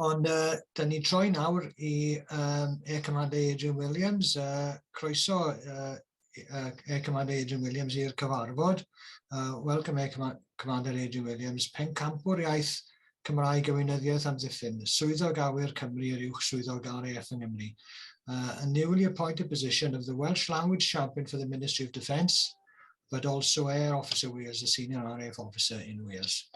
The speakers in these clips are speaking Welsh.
Ond uh, da ni'n troi nawr i um, Air Commander Adrian Williams. Uh, croeso uh, uh, Air Commander Adrian Williams i'r cyfarfod. Uh, welcome Air Command Commander Adrian Williams, pencampwr iaith Cymraeg a Weinyddiaeth Amddiffyn, swyddog awyr Cymru yr uwch swyddog RAF yng Nghymru. Uh, a newly appointed position of the Welsh Language Champion for the Ministry of Defence, but also Air Officer Wales, a Senior RAF Officer in Wales.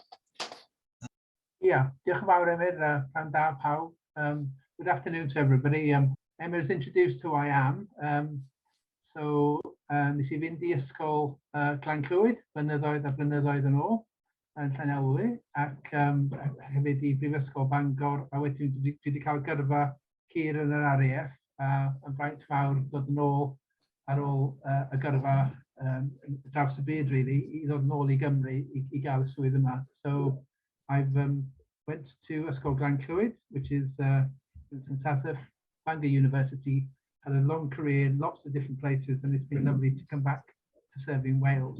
Ia, diolch yn fawr Emyr, a pnawn da pawb. Um, good afternoon to everybody. Um, Emyr has introduced who I am. Um, so, uh, nes i fynd i ysgol uh, Glan Clwyd, blynyddoedd a blynyddoedd yn ôl, yn Llanelwy, ac um, hefyd i Brifysgol Bangor, a wedyn dwi wedi cael gyrfa hir yn yr RAF a yn faint fawr dod yn ôl ar ôl uh, y gyrfa um, draws y byd, really, i ddod yn ôl i Gymru i, i gael y swydd yma. So I've um, went to Ysgol Glan Clwyd, which is uh, St Tathaf, Bangor University, had a long career in lots of different places and it's been lovely to come back to serve in Wales.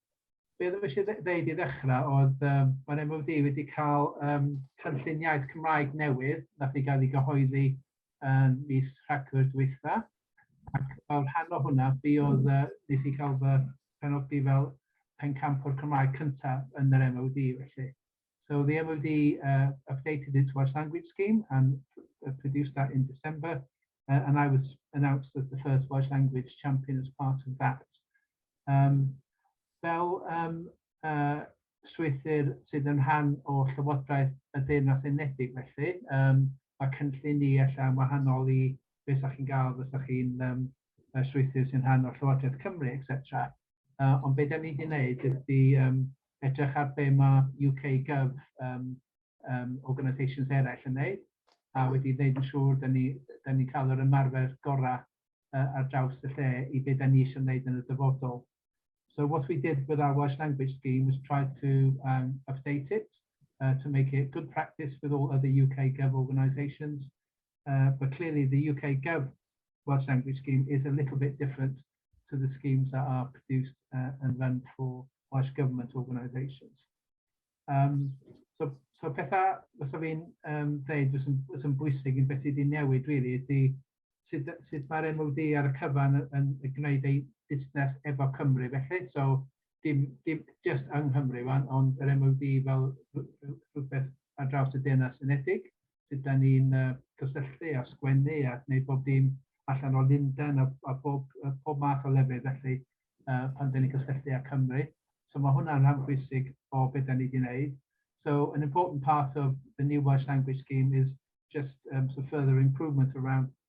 be oedd eisiau ddeud i ddechrau oedd um, mae'r MOD wedi cael um, cynllun iaith Cymraeg newydd nath i gael ei gyhoeddi um, mis Rhagfyr dwytha. Ac fel rhan o hwnna, fi oedd uh, nes i cael fy penodi fel pencamp o'r Cymraeg cyntaf yn yr MOD felly. So the MOD uh, updated its Welsh language scheme and uh, produced that in December, uh, and I was announced as the first Welsh language champion as part of that. Um, fel um, uh, strwythyr sydd yn rhan o Llywodraeth y Deyrnas Unedig felly. Um, mae cynllun ni allan wahanol i beth ydych chi'n gael beth ydych chi'n um, strwythyr sy'n rhan o Llywodraeth Cymru, etc. Uh, ond beth da ni wedi gwneud ydy um, edrych ar be mae UK Gov yym yym organisations eraill yn wneud a wedi wneud yn siŵr dan ni dan ni'n cael yr ymarfer gorau yy ar draws y lle i be dan ni eisiau wneud yn y dyfodol. So what we did with our Welsh language scheme was try to yym update it yy to make it good practice with all other UK Gov organisations yy but clearly the UK Gov Welsh language scheme is a little bit different to the schemes that are produced uh, and run for Welsh Government organisations. Um, so, so pethau, os o fi'n um, dweud, os yn, os yn bwysig yn beth sydd wedi newid, really, ydy sut, sut mae'r MOD ar y cyfan yn, yn, yn gwneud ei busnes efo Cymru, felly. So, dim, dim just yng Nghymru, ond yr MOD fel rhywbeth ar draws y Deyrnas Unedig. sut dan ni'n yy cysylltu a sgwennu a gwneud bob dim allan o Lundain a a bob yy pob math o lefydd felly yy pan dan ni'n cysylltu â Cymru. So ma' hwnna'n rhan bwysig o be dan ni di wneud. So an important part of the new Welsh language scheme is just yym so further improvement around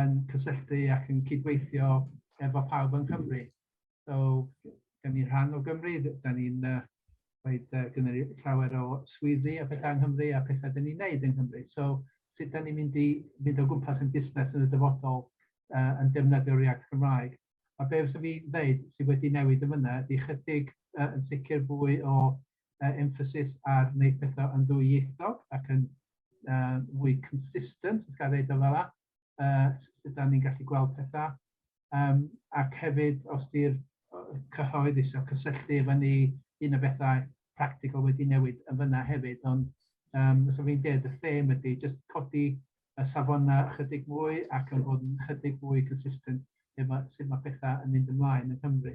yn cysylltu ac yn cydweithio efo pawb yng Nghymru. So, gen ni rhan o Gymru, da ni'n uh, rhaid uh, gynnu llawer o swyddi a pethau yng Nghymru a pethau da ni'n neud yng Nghymru. So, sut da ni'n mynd i fynd o gwmpas yn busnes yn y dyfodol uh, yn defnyddio'r iaith Gymraeg. A be fyswn fi'n dweud sydd wedi newid yn fyna ydy chydig uh, yn sicr fwy o uh, emphasis ar wneud pethau yn ddwyieithog ac yn uh, fwy consistent, os gael ei dweud fel uh, sut da ni'n gallu gweld pethau. Um, ac hefyd, os di'r cyhoedd eisiau cysylltu efo ni, un o bethau practical wedi newid yn fyna hefyd, ond um, os fi'n dweud y theme ydy, just codi y safonau ychydig mwy ac yn bod yn ychydig mwy consistent efo sut mae pethau yn mynd ymlaen yn Cymru.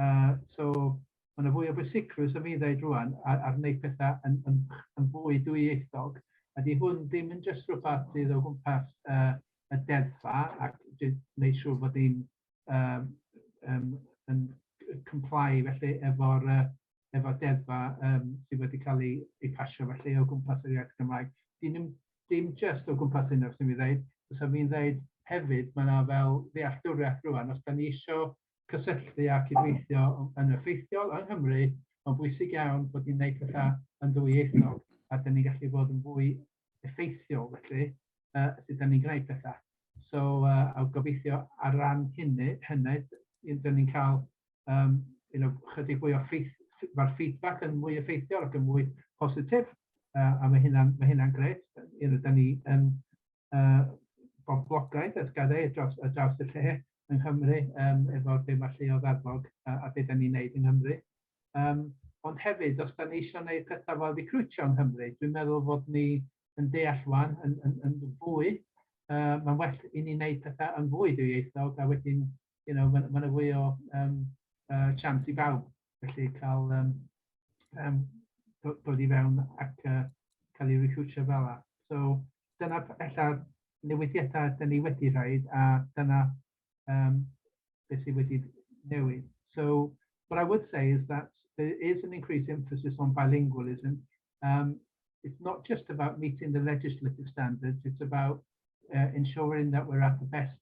Uh, so, mae yna fwy o bwysicrwydd am i ddeud rwan ar, ar wneud pethau yn, yn, yn fwy dwyieithog. A di hwn ddim yn jyst rhywbeth sydd o gwmpas uh, y deddfa ac wneud siŵr bod ni'n um, um, yn comply felly efo'r uh, efo deddfa um, sydd wedi cael ei, ei pasio felly o gwmpas yr iaith Gymraeg. Dyn nhw'n dim just o gwmpas hyn os ydym i'n dweud, os ydym i'n dweud hefyd, mae yna fel ddealltwriaeth rwan, os da ni eisiau cysylltu a cydweithio yn effeithiol yng Nghymru, mae'n bwysig iawn bod ni'n gwneud pethau yn ddwyieithog a dyn ni'n gallu bod yn fwy effeithiol felly uh, sut dyn ni'n gwneud pethau. So, uh, a gobeithio ar ran hynny, hynny, dyn ni'n cael um, you know, chydig fwy o ffeith, mae'r feedback yn mwy effeithiol ac yn mwy positif, uh, a mae hynna'n mae hynna gret. You know, da ni yn boblogaeth a llgaredd ar draws ar draws y lle yng Nghymru yym efo be ma' lleodd arfog a a be 'dan ni'n neud yng Nghymru. Yym ond hefyd os 'dan ni isio neud petha fel recriwtio yng Nghymru dwi'n meddwl fod ni yn deall ŵan yn yn yn fwy yy ma'n well i ni neud petha yn fwy dwyieithog a wedyn you know, mae yna fwy o um, uh, chance i bawb, felly cael um, um, dod i fewn ac uh, cael ei recrwtio fel yna. So, dyna ella newidiadau dyn ni wedi rhaid a dyna um, beth sydd wedi newid. So, what I would say is that there is an increased emphasis on bilingualism. Um, it's not just about meeting the legislative standards, it's about uh, ensuring that we're at the best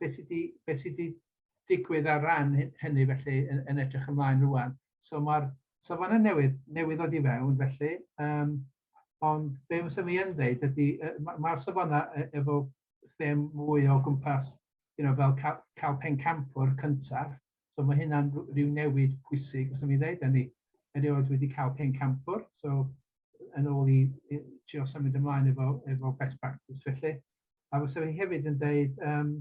beth sydd wedi, beth sydd wedi digwydd ar ran hynny felly yn, yn edrych ymlaen rwan. So mae'r safon yn newydd, newydd ddod i fewn felly, um, ond be mae sef yn dweud ydy, mae'r ma safonau e, efo ddim mwy o gwmpas you know, fel cael, cael pencampwr cyntaf, So mae hynna'n rhyw newid pwysig, os mi ddeud ni, erioed wedi cael pencampwr, so yn ôl i, i trio symud ymlaen efo, efo best practice felly. A fysa fi hefyd yn dweud, um,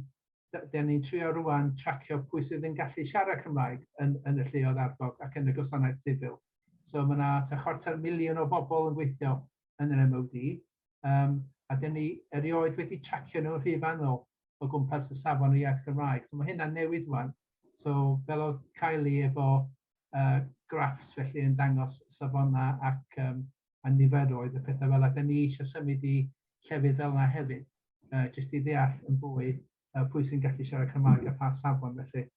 da ni'n trio rwan tracio pwy sydd yn gallu siarad Cymraeg yn, yn y lleoedd arfog ac yn y gwasanaeth sifil. So mae yna ta chwarter miliwn o bobl yn gweithio yn yr MOD, um, a da ni erioed wedi tracio nhw'n rhy fanol o gwmpas y safon y iaith Gymraeg. So mae hynna'n newid rwan. So fel oedd Kylie efo uh, graphs felly yn dangos safonau ac um, a niferoedd y pethau fel yna. Da ni eisiau symud i llefydd fel yna hefyd, uh, jyst i ddeall yn fwy uh, pwy sy'n gallu siarad Cymraeg a pha safon felly.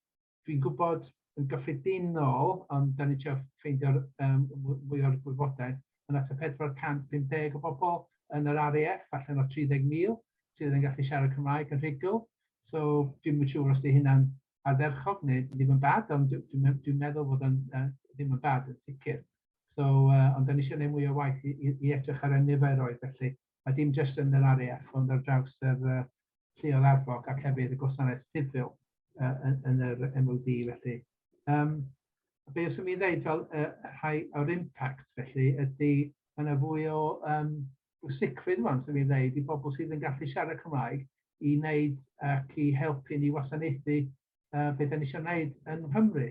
dwi'n gwybod yn gyffredinol, ond da ni'n trio ffeindio um, mwy o'r gwybodaeth, yn at y 450 o bobl yn yr RAF, allan o 30,000, sydd yn gallu siarad Cymraeg yn rhugl. So, dwi'n mynd siŵr os di hynna'n ardderchog neu ddim yn bad, ond dwi'n dwi, dwi meddwl bod yn uh, ddim yn bad yn sicr. So, uh, ond da ni eisiau gwneud mwy o waith i, i, i edrych ar y niferoedd, felly a dim jyst yn yr AREAF ond ar draws yr lleol arfog ac hefyd y gwasanaeth sifil yn yr MOD felly. Um, be os imi ddeud fel y rhai o'r impact felly ydy mae yna fwy o um, sicrwydd rwan sy'n ei ddeud i bobl sydd yn gallu siarad Cymraeg i wneud ac i helpu ni wasanaethu uh, beth ni'n eisiau gwneud yn Nghymru.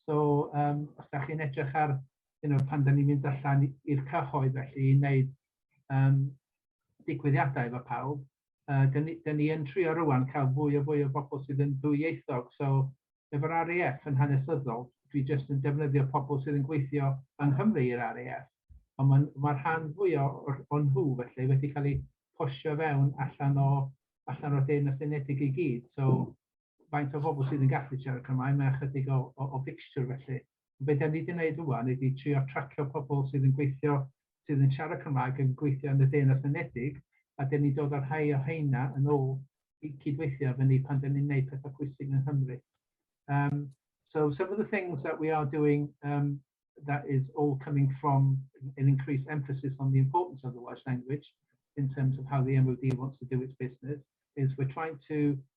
So, um, os da chi'n edrych ar, you know, pan da ni'n mynd allan i'r cyhoedd felly i wneud um, digwyddiadau efo pawb, uh, da ni, da ni yn trio rwan cael fwy o fwy o bobl sydd yn ddwyieithog. So, efo'r RAF yn hanesyddol, dwi jyst yn defnyddio pobl sydd yn gweithio yng Nghymru i'r RAF. Ond mae'r ma rhan fwy o, o, o nhw felly wedi cael eu posio fewn allan o, allan o Deyrnas Unedig i gyd. So, faint o bobl sydd yn gallu siarad Cymraeg, mae ychydig o, o, o fixture felly. Be da ni wedi gwneud rwan ydy trio tracio pobl sydd yn gweithio, sydd yn siarad Cymraeg yn gweithio yn y Deyrnas Unedig, a da ni'n dod â'r rhai o heina yn ôl i cydweithio efo ni pan da ni'n gwneud pethau pwysig yng Nghymru. Um, so some of the things that we are doing um, that is all coming from an increased emphasis on the importance of the Welsh language in terms of how the MOD wants to do its business is we're trying to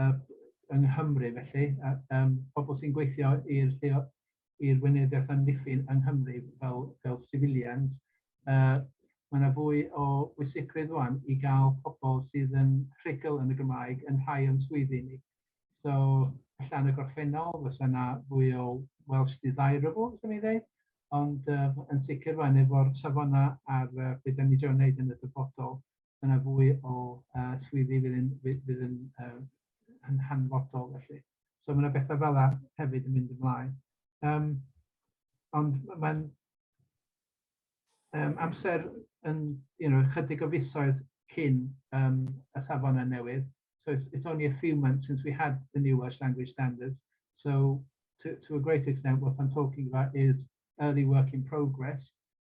yy yng Nghymru felly, a yym pobl sy'n gweithio i'r lleo- i'r Weinyddiaeth Amddiffyn yng Nghymru fel fel civilians, yy ma' 'na fwy o bwysigrwydd ŵan i gael pobl sydd yn rhugl yn y Gymraeg yn rhai o'n swyddi ni. So ella yn y gorffennol fysa 'na fwy o Welsh desirables 'swn i'n ddeud, ond yy yn sicr ŵan efo'r safonau ar yy be' 'dan ni trio neud yn y dyfodol, dyna fwy o uh, swyddi fydd yn, fydd yn, uh, yn hanfodol felly. So mae yna bethau fel yna hefyd yn mynd ymlaen. Um, ond mae'n um, amser yn you know, chydig o fisoedd cyn um, y safon yn newydd. So it's, it's only a few months since we had the new Welsh language standards. So to, to a great extent, what I'm talking about is early work in progress.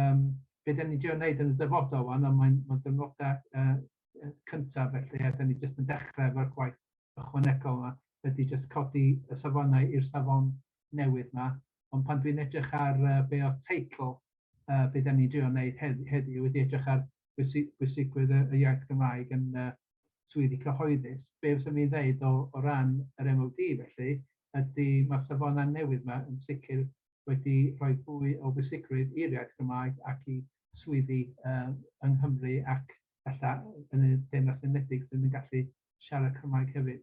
um, be da ni'n dio'n neud yn y dyfodol wan, ond mae'n ma dynodau uh, cyntaf felly, a da ni jyst yn dechrau efo'r gwaith ychwanegol yma, ydy jyst codi y safonau i'r safon newydd yma, ond pan dwi'n edrych ar uh, be o'r teitl, uh, be da ni'n dio'n neud heddiw, heddi, wedi edrych ar bwysigrwydd y, y iaith Gymraeg yn uh, swyddi cyhoeddus, be fes mi'n ddeud o, o ran yr MOD felly, ydy mae'r safonau newydd yma yn sicr wedi rhoi fwy o bwysigrwydd i'r iaith Gymraeg ac i swyddi yng Nghymru ac ella yn y Deyrnas Unedig sydd yn gallu siarad Cymraeg hefyd.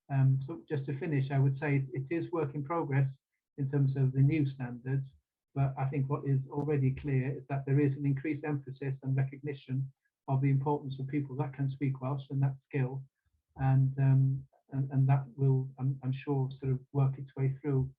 Um, so just to finish, I would say it, it is work in progress in terms of the new standards, but I think what is already clear is that there is an increased emphasis and recognition of the importance of people that can speak Welsh and that skill, and um, and, and that will, I'm, I'm sure, sort of work its way through